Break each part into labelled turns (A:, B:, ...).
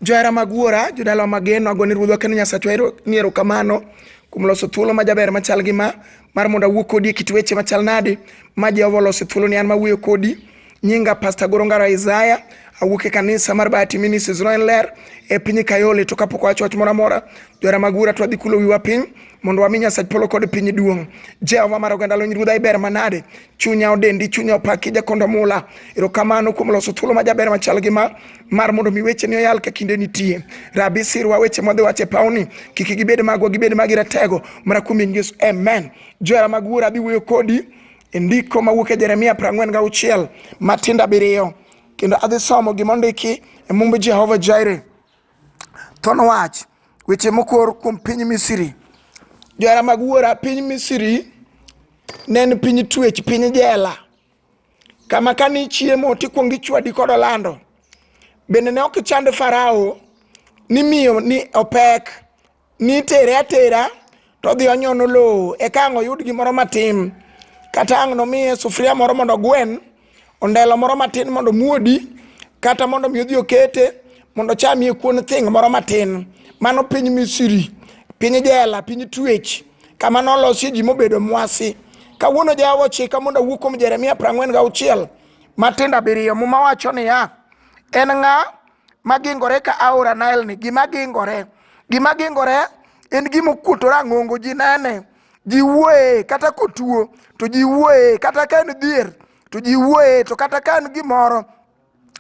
A: Johera mag Wuora, jodalawa mageno, agone Ruodhwa kendo Nyasachwa ero- ni erokamano kuom loso thuolo ma jaber machal gi ma mar mondo awuo kodi e kit weche machal nade ma Jehova oloso thuolo ni an mawuoyo kodi. Nyinga Pastor Goro Ngaro Isaiah, awuok e kanisa mar Bahati Ministries Roen Ler e piny Kayole to kapok wacho wach moro amora, johera mag Wuora to wadhi kulo wiwa piny mondo wami Nyasach polo kod piny duong'. Jehova mar oganda lony Ruodha iber manade, chunya odendi, chunya opaki jakondo mula. Erokamano kuom loso thuolo ma jaber machal gi ma mar mondo mi wecheni oyal ka kinde nitie. Rabi sirwa weche mwadhi wacho e pawni, kik gibed magwa, gibed magi ratego, mana kuom nying Yesu, amen. Johera mag Wuora adhi wuoyo kodi e ndiko mawuok e Jeremia 40 gauchiel matindo abiriyo, kendo adhi somo gima ondiki e mumb Jehova Jaire. Thon wach weche mokor kuom piny Misri. Johera mag Wuora, piny Misri ne en piny twech, piny jela, kama ka ni chiemo to ikwongo ichwadi kod olando bende ne ok ichand farao ni miyo ni opek ni itere atera to odhi onyono lowo eka ang' oyud gimoro matin kata ang' nomiye sufuria moro mondo ogwen ondelo moro matin mondo muodi kata mondo mi odhi okete mondo ochamie kuon thing' moro matin mano piny misiri piny jela piny twech kama nolosie ji mobedo mwasi kawuono jawa ochika mondo awuo kuom jeremia prang'wen ga auchiel matindo abiriyo muma wacho niya en ng'a magingore ka aora nile ni gima gingore gima gingore en gima okuoto rang'ongo ji nene ji wuoye kata kotuo to ji wuoye kata ka en dhier to ji wuoye to kata ka en gimoro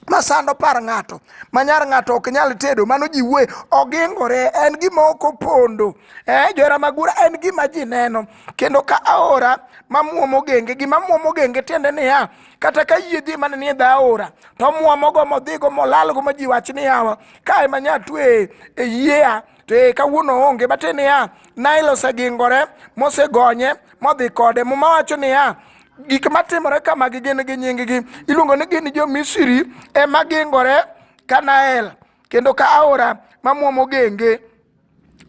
A: masando par ng'ato manyar ng'ato ok nyal tedo mano ji wuoye ogingore en gima ok opondo eh, johera magura en gima ji neno kendo ka aora mamwomo genge gima mwomo genge tiende niya kata ka yie dhi mane ni dha aora to mwomogo modhigo molalgo ma ji wach ni yawa ka ema nya twe e yiea to e kawuono onge bate niya nail osegingore mosegonye modhi kode muma wacho niya gik matimore kamagi gin gi nyinggi iluongo ni gin jo-misri ema gingore kanael kendo ka aora mamwomo genge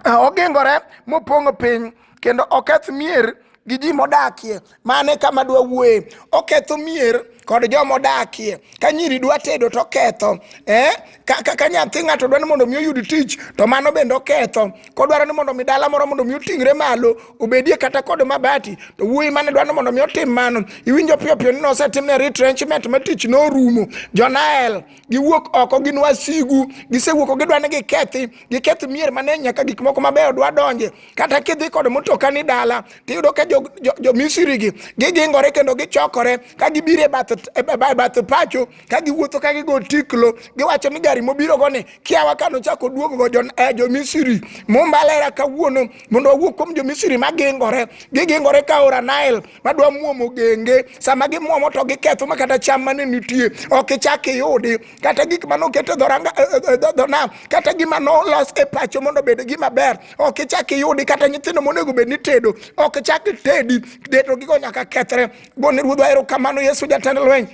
A: Ah, ogingore mopong'o piny kendo oketh mier gi ji modakie mane kama dwa wuoye oketho mier kod joma odakie ka nyiri dwa tedo to ketho eh? ka, ka, ka nyathi ng'ato dwa ni mondo mi oyud tich to mano bende oketho kodwaro ni mondo mi dala moro mondo mi oting're malo obedie kata kod mabati to wuoyi mane dwa ni mondo mi otim mano iwinjo piyo piyo ni nosetimne retrenchment ma tich norumo jonael giwuok oko gin wasigu gisewuoko gidwa ni gikethi giketh mier mane nyaka gik moko mabeyo dwa donje kata kidhi kod mutoka ni dala tiyudo ka jo, jo, jo misiri gi gigingore kendo gichokore ka gibiro e bath, e bath pacho ka giwuotho ka gigo tiklo giwacho ni gari mobirogo ni kiawa ka nochako duogogo eh, jomisiri mombalera kawuono mondo wawuog kuom jomisiri magingore gigingore ka ora nile madwa muomo genge sama gimuomo to giketho ma kata cham mane nitie ok ichak iyudi kata gik mane oket e dhonam eh, eh, kata gima nolos e pacho mondo obed gima ber ok ichak iyudi kata nyithindo monego bed ni tedo ok ichak itedi deto gigo nyaka kethre gone ruodhwa erokamano yesu jatend lweny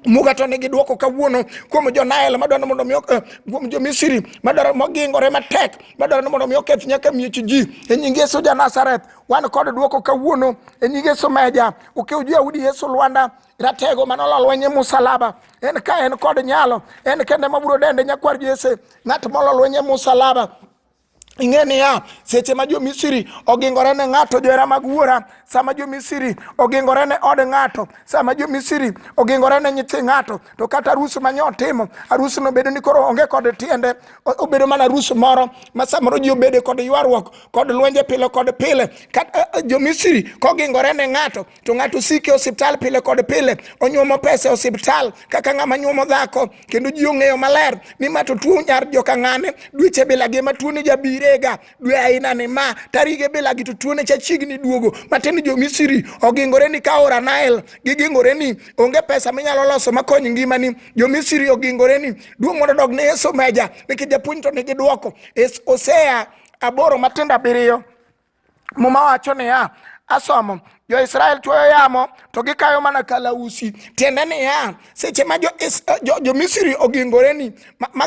A: muga to nigi dwoko kawuono kuom jo Nile madwaro mondo mi eh, kuom jo Misri madwaro mogingore matek madwaro mondo mi oketh nyaka miech ji e nying Yesu ja Nazareth wan kod dwoko kawuono e nying Yesu meja ukiw jo Yahudi Yesu Lwanda ratego mane olo lweny e musalaba en ka en kod nyalo en kende mabiro dende nyakwar Jesse ng'at molo lweny e musalaba ing'e niya seche ma jo-misri ogingore ne ng'ato johera mag wuora sama jo-misri ogingore ne od ng'ato sama jo-misri ogingore ne nyithi ng'ato to kata arus ma nyotimo arusno bedo ni koro onge kod tiende obedo mana arus moro ma samoro ji obede kod ywaruok kod lwenje pile kod pile eh, eh, jo-misri kogingore ne ng'ato to ng'ato sike osiptal pile kod pile onyuomo pesa e osiptal kaka ng'ama nyuomo dhako kendo ji ong'eyo maler ni ma to tuo nyar joka ng'ane dweche bilagi ma tuone jabirega dwe aina ni ma tarige bilagi to tuone cha chiegni duogo matiende jo misiri ogingore ni ka ora nile gigingore ni onge pesa minyalo loso makony ngimani jo misiri ogingore ni duong' mondo dog ne yesu meja nikech japuonj to nigi dwoko osea aboro matindo abiriyo muma wacho niya asomo jo-israel chuoyo yamo to gikayo mana kalausi tiende niya seche ma jo-misri jo, jo ogingoreni ma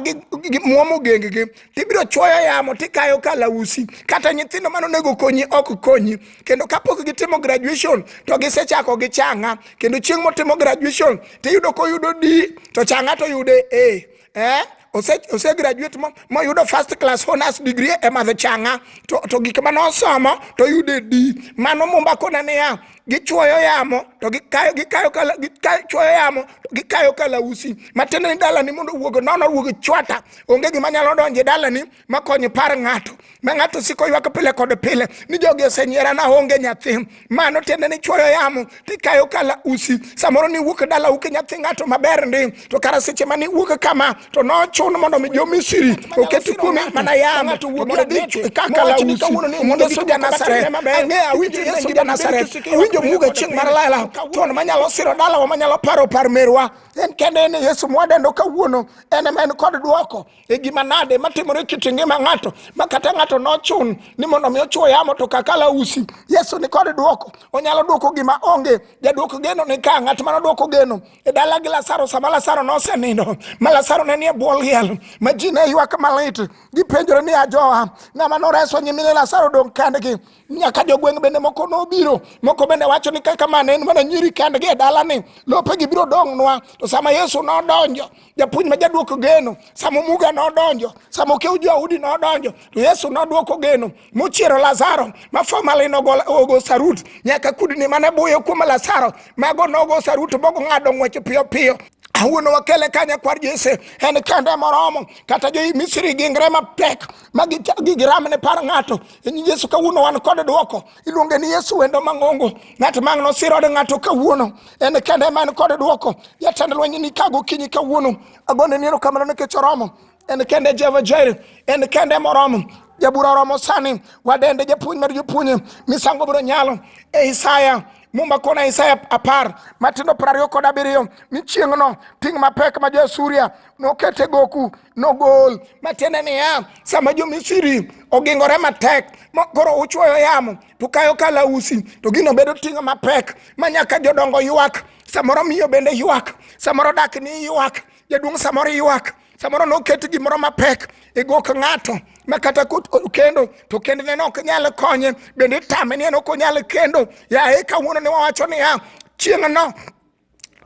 A: muomo genggi tibiro chuoyo yamo tikayo kalausi kata nyithindo mane onego konyi ok konyi kendo kapok gitimo graduation to gisechako gi changa kendo chieng' motimo graduation tiyudo koyudo d to changa to yude a eh ose ose graduate mo moyudo first class honors degree e madho changa to to gik ma nosomo to yude di mano mumba kona niya gichuoyo yamo to gikayo gikayo kala gikayo chuoyo yamo to gikayo kalausi matiende ni dalani mondo owuog nono owuog chwata onge gima nyalo donje dalani makonyo ipar ng'ato ma ng'ato siko ywak pile kod pile ni jogi osenyiera na onge nyathi mano tiende ni chuoyo yamo tikayo kala usi samoro ni wuok dala uke nyathi ng'ato maber ndi to kara seche mani wuok kama to nochun mondo mi jo misiri oket kuome mana yamo mondo dhi kakala usi mondo suja nasaret ang'e awinjo yesu suja nasaret awinjo muga chieng' mar lela tuon manyalo siro dalawa manyalo paro par merwa en kende ni yesu mwadendo kawuono en ema en kod dwoko e gima nade matimore kit ngima ng'ato ma kata ng'ato nochun ni mondo mi ochwo yamo to kakala usi yesu ni kod dwoko onyalo dwoko gima onge jadwoko geno ni ka ng'at ma nodwoko geno e dala gi lasaro sama lasaro nosenindo ma lasaro ne nie bwo liel ma ji ne ywak malit gipenjore ni ajoa ng'ama noreso nyimine lasaro dong' kendgi nyaka jogweng' bende moko nobiro moko bende wacho ni kaka mane en mana nyiri kendgi e dalani lopegi biro dong'nwa to sama yesu nodonjo japuonj ma jaduoko geno sama muga nodonjo sama okew joudi nodonjo to yesu nodwoko geno mochiero lazaro ma famali nogo sarut nyaka kudni mane buyo kuom lazaro mago nogo sarut mogo ng'ado ng'weche piyo piyo awuono wakele kanya kwar jese en kende moromo kata jo misri gingre mapek ma giramne par ng'ato in yesu kawuono wan kod dwoko iluonge ni yesu wendo mang'ongo ng'at mang' nosiro od ng'ato kawuono en kende ma en kod dwoko jatend lweny ni ka gokinyi kawuono agone ni erokamano nikech oromo en kende jehova jair en kende moromo jabura oromo sani wadende japuonj mar jopuonje misango biro nyalo e isaya mumba kona isaya apar matindo piero ariyo kod abiriyo ni chieng'no ting' mapek ma jo-asuria nokete goku nogol matiende niya sama jomisiri ogingore matek ma koro uchuoyo yamo to kayo kalausi to gino bedo ting'o mapek ma nyaka jodongo ywak samoro miyo bende ywak samoro dak ni ywak jaduong' samoro ywak samoro noket gimoro mapek e gok ng'ato ma kata kot- o- kendo to kendne ne ok nyal konye bende itame ni en ok onyal kendo yaye kawuono ne wawacho niya chieng'no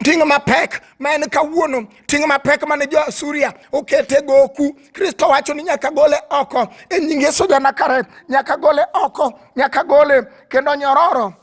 A: ting' mapek ma en kawuono ting' mapek mane jo asuria okete goku kristo wacho ni nyaka gole oko e nying yesu janakare nyaka gole oko nyaka gole kendo nyororo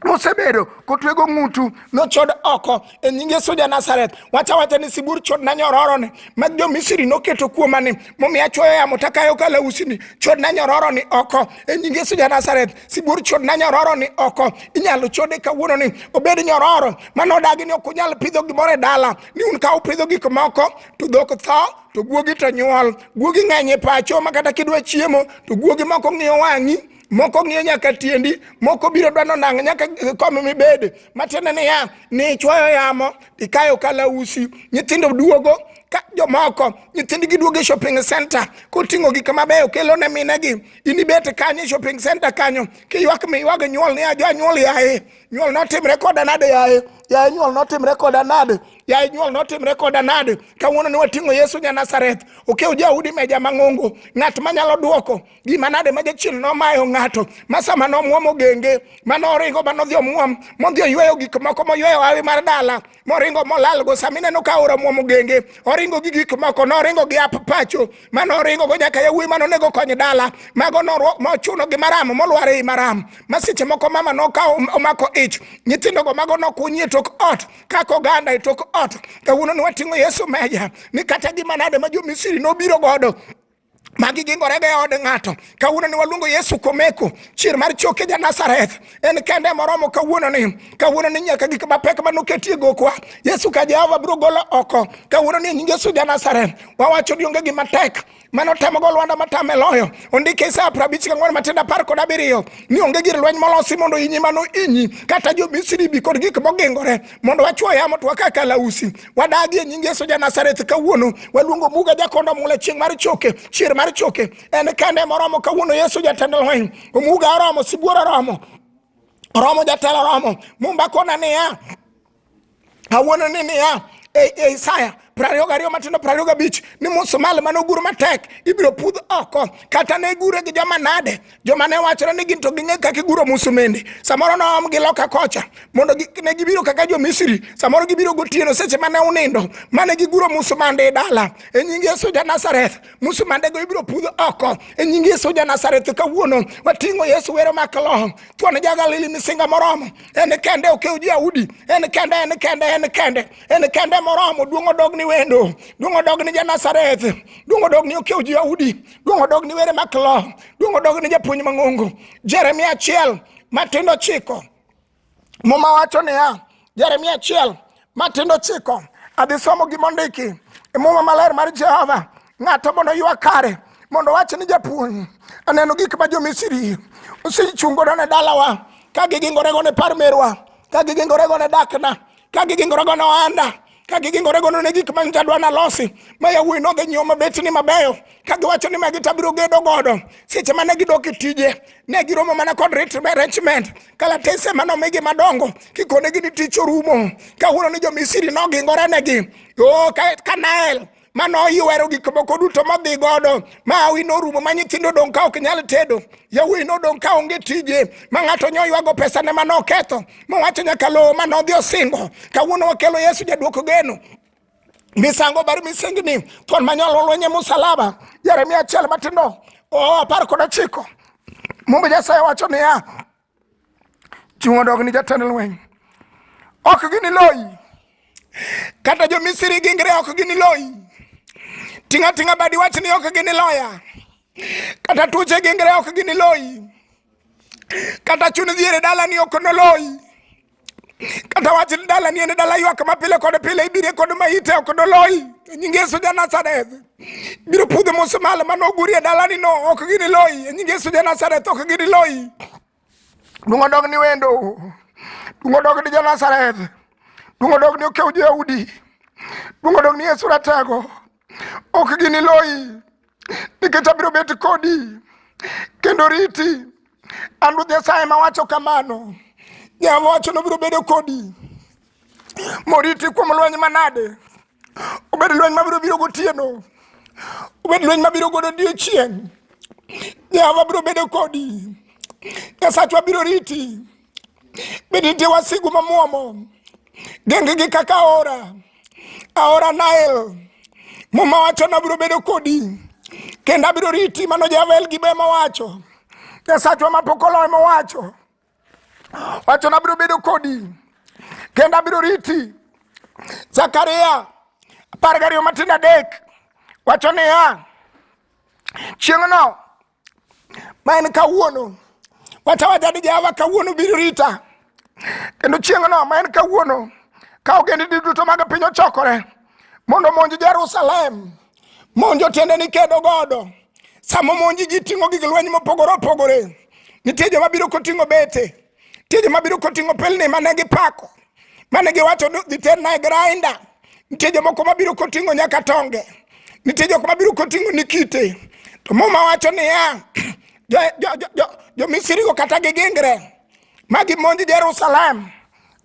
A: mosebedo kotwego ng'utu nochod oko e nying yesu ja nazareth wacha wacha ni sibur chodna nyororoni mag jo misri noketo kuomani momiyo achwoyo yamo takayo kalausi ni chodna nyororoni oko e nying yesu ja nazareth sibuor chod na nyororo ni oko inyalo chode kawuono ni obed nyororo mano odagi ni ok unyal pidho gimoro e dala ni un ka upidho gik moko to dhok tho to guogi to nyuol guogi ng'eny e pacho ma kata kidwa chiemo to guogi moko ng'iyo wang'i moko ng'iyo nyaka tiendi moko biro dwano nang' nyaka kom mibede matiende niya ni ichwoyo yamo ikayo kalausi nyithindo duogo ka jomoko nyithindgi duogo e shopping center koting'o gik mabeyo kelo ne minegi inibet kanyo e shopping center kanyo kiywak miywag nyuol ni ajo anyuol yaye nyuol notimre koda nade yaye yaye nyuol notimre koda nade yaye nyuol notimre koda nade kawuono ne wating'o yesu nya nazareth okew jaudi meja mang'ongo ng'at manyalo duoko gima nade ma jachien nomayo ng'ato ma sama nomwomo genge ma noringo ma nodhi omwom modhi oyweyo gik moko moyweyo hawi mar dala moringo molalgo sama ineno ka aora omwomo genge oringo gi gik moko noringo gi ap pacho ma noringo go nyaka yawuoyi ma nonego kony dala mago norwa- nochuno gi maram molwar ei maram ma seche moko mama nokawo omako ich nyithindogo mago nokunyi e tok ot kaka oganda e tok ot kawuono ni wating'o yesu meja ni kata gima nade ma jo misiri nobiro godo magi gingore gi od ng'ato kawuono ni waluongo yesu komeko chier mar choke ja nazareth en kende moromo kawuono ni kawuono ni nyaka gik mapek ma noketie gokwa yesu ka jehova biro golo oko kawuono ni nying yesu ja nazareth wawacho ni onge gima tek mano temo go lwanda matame loyo ondike isaya prabich gang'wen matindo apar kod abiriyo ni onge gir lweny molosi mondo inyi mano inyi kata jo misri bi kod gik mogingore mondo wachwo yamo to waka kalausi wadagi e nying yesu ja nazareth kawuono waluongo muga jakondo mula chieng' mar choke chier mar choke en kende moromo kawuono yesu jatend lweny omuga oromo sibuor oromo oromo jatelo oromo mumba kona niya awuono ni niya e, e isaya prariyo gariyo matindo prariyo gabich ni musmal mane ogur matek ibiro pudh oko kata ne gure gi joma nade joma ne wachore ni gin to ging'e kaka iguro musumende samoro noom gi loka kocha mondo gi- ne gibiro kaka jo misri samoro gibiro gotieno seche mane unindo mane giguro musumande e dala e nying yesu ja nazareth musumandego ibiro pudh oko e nying yesu ja nazareth kawuono wating'o yesu wero makaloho thuon ja galili misinga moromo en kende okew ji audi en kende en kende en kende en kende moromo duong' odog ni wendo duong' odog ni ja nazareth duong' odog ni okew ji audi duong' odog ni were maklo duong' odog ni japuonj mang'ongo jeremia achiel matindo chiko muma wacho niya jeremia achiel matindo chiko adhi somo gima ondiki e muma maler mar jehova ng'ato mondo ywa kare mondo wach ni japuonj aneno gik ma jomisiri osechungodo ne dalawa ka gigingorego ne par merwa ka gigingorego ne dakna ka gigingore go ne ohanda ka gigingore go ne gik ma nyocha dwa nalosi ma yawuoyi nodhi nyiewo mabetni mabeyo ka giwacho ni magi tabiro gedo godo seche mane gidok e tije ne giromo mana kod retiment kalatese mane omigi madongo kikonegi ni tich orumo kawuono ni jomisiri nogingore negi o kanael mane oywero gik moko duto modhi godo ma hawi norumo ma nyithindo odong' ka ok nyal tedo yawuoyi nodong' ka onge tije ma ng'ato nyo ywago pesane ma noketho mowacho nyaka lowo ma nodhi osingo kawuono wakelo yesu jaduoko geno misango bar misengni thuon manyalo lwenye musalaba jeremia achiel matindo o apar kod ochiko mumbe nyasaye wacho niya Chieng' odog ni jatend lweny, ok giniloyi. Kata jo-Misri gingre ok giniloyi. Ting' ating'a badi iwach ni ok giniloya. Kata tuoche gingre ok giniloyi. Kata chun dhier e dalani ok noloyi. kata wach ni dala ni en dala ywak ma pile kod pile ibire kod ma ite ok doloyi E nying yesu ja nazareth biro pudho musmal mane ogurie dalani no ok gini loyi E nying yesu ja nazareth ok gini loyi dong odog ni wendo dong odog ni jo nazareth dong odog ni okew joyaudi dong odog ni yesu ratego ok giniloyi nikech abiro bet kodi kendo riti an ruoth nyasaye ma wacho kamano jehova wacho nobiro bedo kodi moriti kuom lweny manade obed lweny mabiro biro gotieno obed lweny mabiro godo odiechieng' jehova biro bedo kodi nyasachwa biro riti Be nitie wasigu ma muomo gengegi kaka aora aora Nael? Muma wacho ni abiro bedo kodi kendo abiro riti, mano Javel gi be mowacho. Nyasachwa ma pok oloyo mowacho wacho ni abiro bedo kodi kendo abiro riti. Zakaria apar gariyo matindo adek wacho niya, chieng'no ma en kawuono wata watadi jehova kawuono biro rita kendo chieng'no ma en kawuono ka ogendini duto mag piny ochokore mondo omonj jerusalem monjo tiende ni kedo godo sama omonji ji ting'o gig lweny mopogore opogore nitie joma biro koting'o bete Nitie joma biro koting'o pelni mane gipako, mane giwacho ni dhi terna e grainda. Nitie jomoko mabiro koting'o nyaka tonge. Nitie jok mabiro koting'o ni kite. To muma wacho niya, jo- jo- jo- jo- jo-Misrigo kata gigingre ma gimonj Jerusalem.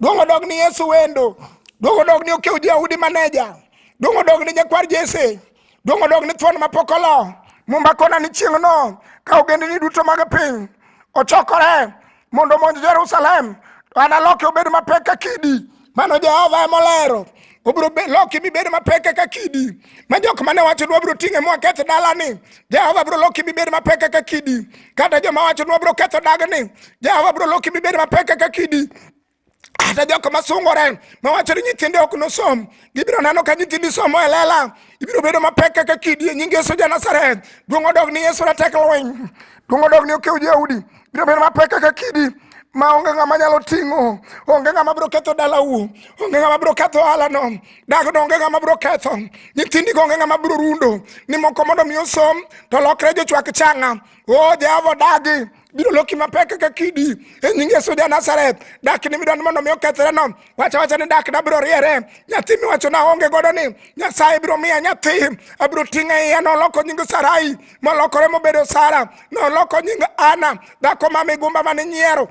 A: Duong' odog ni Yesu wendo. Duong' odog ni okew Jayahudi maneja. Duong' odog ni nyakwar Jesse. Dong' odog ni thuon ma pok olo. Mumba kona ni chieng'no ka ogendini duto mag piny ochokore mondo omonj Jerusalem, to analoke obed mapek ka kidi. Mano Jehova ema olero. Obiro be- loki mibed mapek kaka kidi. Ma jok mane wacho ni wabiro ting'e ma waketh dalani, Jehova biro loki mibed mapek kaka kidi. Kata joma wacho ni wabiro ketho dagni, Jehova biro loki mibed mapek kaka kidi. kata jok ma sungore ma wacho ni nyithinde ok nosom gibiro neno ka nyithindi somo e lela ibiro bedo mapek kaka kidi e nying yesu ja nazareth duong' odog ni yesu ratek lweny duong' odog ni okew jaudi biro bedo mapek kaka kidi ma onge ng'ama nyalo ting'o onge ng'ama biro ketho dalau onge ng'ama biro ketho ohalano dagno onge ng'ama biro ketho nyithindigo onge ng'ama biro rundo ni moko mondo mi osom to lokre jochwak changa o jehova odagi biro loki mapek kaka kidi e nying yesu ja nazareth dak ni midwani mondo mi okethre no wacha wacha ni dak nabiro riere nyathi miwacho na onge godo ni nyasaye biro miya nyathi abiro ting'e iya noloko nying sarai molokore mobedo sara noloko nying ana dhako ma migumba mane nyiero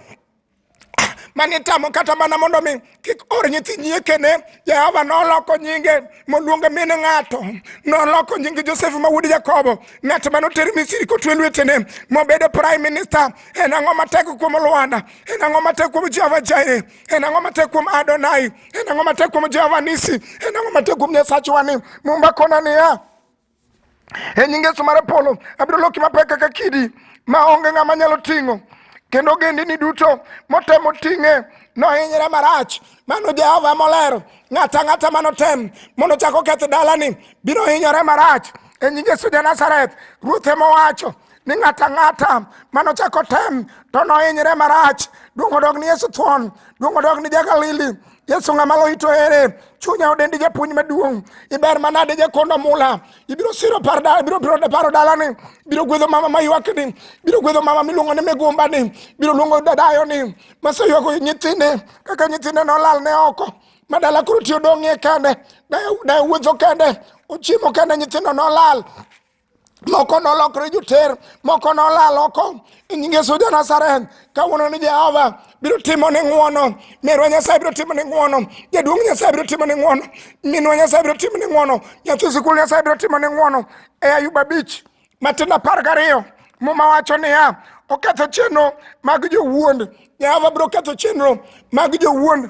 A: mane tamo kata mana mondo mi kik or nyithi nyiekene jehova noloko nyinge moluonge min ng'ato noloko nyinge josef ma wuod jakobo ng'at mane oter misiri kotwe lwetene mobedo prime minister en ang'o matek kuom lwanda en ang'o matek kuom jehova jaire en ang'o matek kuom adonai en ang'o matek kuom jehova nisi en ang'o matek kuom nyasachwani mumba kona niya e nying Yesu mar Apolo, abiro loki mapek kaka kidi ma onge ng'ama nyalo ting'o. Kendo ogendini duto motemo ting'e nohinyre marach. Mano Jehova ema olero. Ng'ato ang'ata manotem mondo ochak oketh dalani biro hinyore marach. E nying Yesu ja Nazareth, Ruoth ema owacho ni ng'ato ang'ata manochak otem to nohinyre marach. Duong' odog ni Yesu thuon, duong' odog ni ja-Galili. yesu ng'ama loyi to ere chunya odendi japuonj maduong' iber manade jakondo mula ibiro siro par dala ibiro biro paro dalani ibiro gwedho mama maywakni ibiro gwedho mama miluongo ni migumbani ibiro luongo dadayoni maseywago nyithinde kaka nyithinde nolal ne oko madala koro tiyo dong'ie kende dayo wuotho kende ochiemo kende nyithindo nolal moko nolokre joter moko nolal oko e nying yesu ja nazareth kawuono ni jehova biro timo ni ng'wono merwa nyasaye biro timo ni ng'wono jaduong' nyasaye biro timo ni ng'wono minwa nyasaye biro timo ni ng'wono nyathi sikul nyasaye biro timo ni ng'wono e ayub abich matin apar gariyo muma wacho niya oketho chenro mag jowuond jehova biro ketho chenro mag jowuond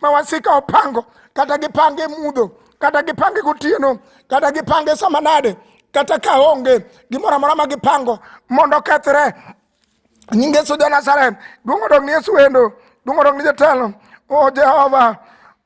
A: ma wasika opango kata gipange mudho kata gipange gotieno kata gipange sama nade kata ka onge gimoro amora ma gipango mondo okethre nying yesu jo nazareth duong' odog ni yesu wendo duong' odog ni jatelo o jehova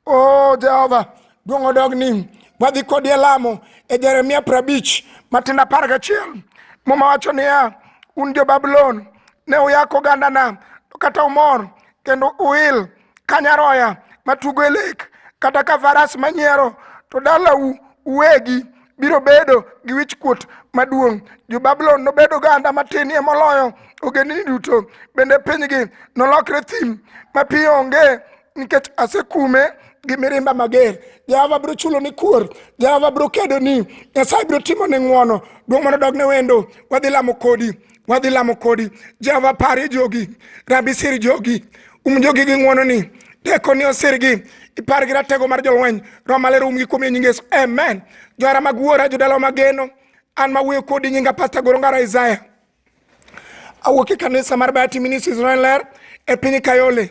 A: o jehova duong' odog ni wadhi kodi e lamo e jeremia prabich matindo apar gachiel muma wacho niya un jo babulon ne uyako ogandana to kata umor kendo uil ka nyaroya matugo e lek kata ka faras manyiero to dalau uwegi biro bedo gi wichkuot maduong' jo-babulon nobed oganda matinie moloyo ogendini duto bende pinygi nolokre thim mapiyo onge nikech asekume gi mirimba mager jehova biro chulo ni kuor jehova biro kedo ni nyasaye biro timo ni ng'wono duong' mondo dog ne wendo wadhi lamo kodi wadhi lamo kodi jehova parie jogi rabi sir jogi um jogi gi ng'wononi tekoni osirgi ipar gi ratego mar jolweny roho maler umgi kuom e nying yesu amen johera mag wuora jodalawa mageno an mawuoyo kodi nyinga pasta gorongara isaya awuok e kanisa mar bayati ministries roen ler e piny kayole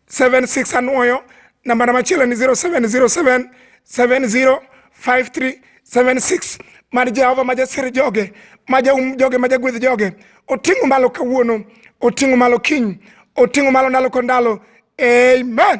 A: 76 anwoyo nambana machielo ni 0707 705376 mar jehova ma jasir joge ma jaum joge ma jagwedh joge oting'o malo kawuono oting'o malo kiny oting'o malo ndalo kod ndalo amen